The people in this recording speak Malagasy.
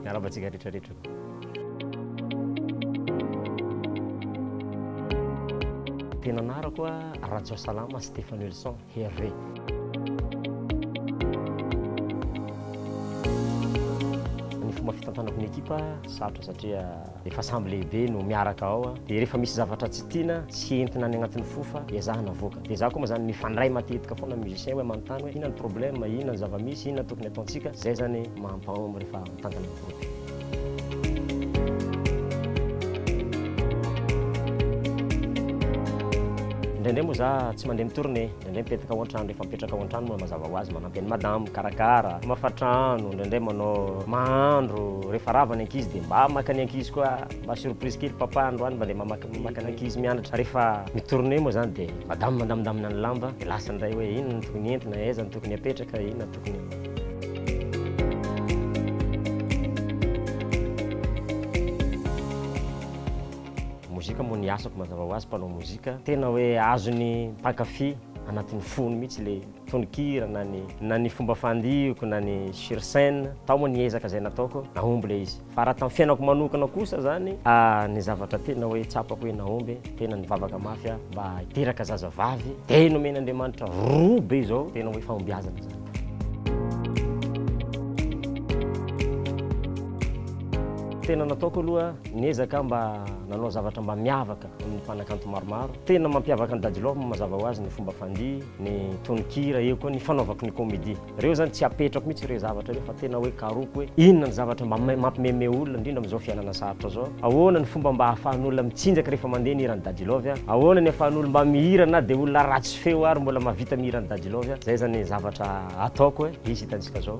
Miarahaba antsika rehetrarehetra. tena anarako a rajao salama stéphane wilson herve ny fomba fitantanako ny ekipa sarotra satria Rehefa sambo lehibe no miaraka ao dia rehefa misy zavatra tsy tiana sy entina any anatin'ny fofa dia zahana avoaka. Dia za koa moa zany mifandray matetika foana amin'ny musicien hoe manontany hoe inona ny problème, inona ny zava-misy, inona ny tokony ataontsika. Zay zany maha mpaom rehefa mitantana ny groupe. Indraindray moa za tsy mandeha mi-tournée. Indraindray mipetaka ao an-trano, rehefa mipetraka ao an-trano moa mazava ho azy manampy an'i madama mikarakara, mamafa trano, indraindray manao mahandro, rehefa rava ny ankizy dia mba maka ny ankizy koa, mba surprise kely papa androany mba andeha mamaky maka ny ankizy mianatra, rehefa mi-tourner moa izany dia madama mandamindamina ny lamba, dia lasa indray hoe inona no tokony entina, aiza no tokony apetraka, inona no tokony. Mozika moa ny asako mazava ho azy mpanao mozika, tena hoe azon'ny mpankafy anatin'ny fony mihitsy le tononkira na ny na ny fomba fandioko na ny sur scène, tao moa ny ezaka zay nataoko nahomby le izy fa raha tamin'ny fiainako manokana kosa zany a ny zavatra tena hoe tsapako hoe nahomby tena nivavaka mafy aho mba hiteraka zazavavy de nomen'Andriamanitra roa be zao tena hoe fahombiazana zany. Tena nataoko aloha Niezaka aho mba nanao zavatra mba miavaka amin'ny mpanakanto maromaro. Tena mampiavaka an'i Daddy Love moa mazava ho azy ny fomba fandihy, ny tononkira, eo koa ny fanaovako ny comedy. Ireo zany tsy apetrako mihitsy ireo zavatra ireo fa tena hoe karohiko hoe inona ny zavatra mba mampimemehy olona indrindra amin'izao fiainana sarotra izao. Ahoana ny fomba mba ahafahan'olona mitsinjaka rehefa mandeha ny hiran'i Daddy Love? Ahoana ny ahafahan'olona mba mihira na dia olona ratsy feo ary mbola mahavita mihira an'i Daddy Love? Izay zany zavatra ataoko hisy hitantsika izao.